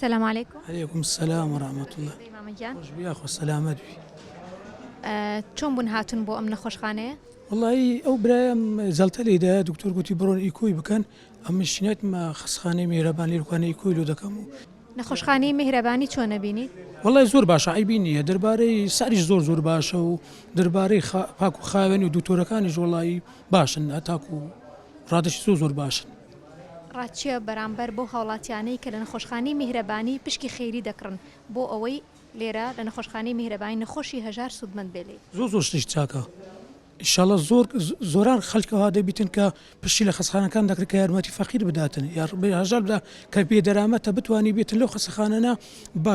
سلام علیکم. علیکم السلام و رحمە اللە. چۆن بی مامە گیان. خۆش بی یاخوا سەلامەت بی. چۆن بوون هاتوون بۆ ئەم نەخۆشخانەیە؟ وەڵایی ئەو برایەم جەڵتە لێی دایە دکتۆر گوتی بڕۆن ئیکۆی بکەن ئەمنیش چنێتمە خەستخانەی میهرەبان لێرکوانە ئیکۆی لۆ دەکەم و نەخۆشخانەی میهرەبانی چۆن نەبینی؟ وەڵای زۆر باشە عەیبی نییە دەربارەی ساریش زۆر زۆر باشە و دەربارەی پاک و خاوێن و دوکتۆرەکانیش وەڵایی باشن هەتاکوو ڕادەشی زۆر زۆر باشن. ڕاچیە بەرامبەر بەو هاوڵاتیانەی کە لە نەخۆشخانەی میهرەبانی پشکی خێری دەکڕن بۆ ئەوەی لێرە لە نەخۆشخانەی میهرەبانی نەخۆشی هەژار سودمەند بێ لێی. زۆر زۆر شتێکی چاکە ئیشاڵا زۆر زۆران خەلک ئەوها دەبیتن کە پشتی لە خەسخانەکان دەکرد کە یارمەتی فەقیر بداتن یار بێ هەژار بدا کە بێ دەرامەتە بتوانی بێتن لەو خەسەخانەنە بە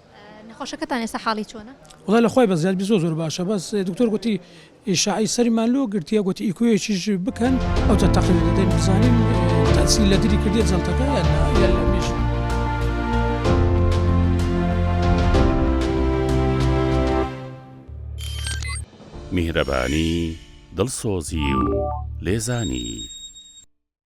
نەخۆشەکەتان ئێستا حاڵی چۆنە؟ وەڵا لەخوای بەزیاد زۆر زۆر باشە بەس دکتۆر گۆتی ئیشاعی سەریمان لۆ گرتیە گۆتی ئیکۆیەکیش بکەن ئەوجە تەقی دەدەین بزانین تەسیل لە دری کردێت جەڵتەکە یان نا یان لە مێشک میهرەبانی دڵسۆزی و لێزانی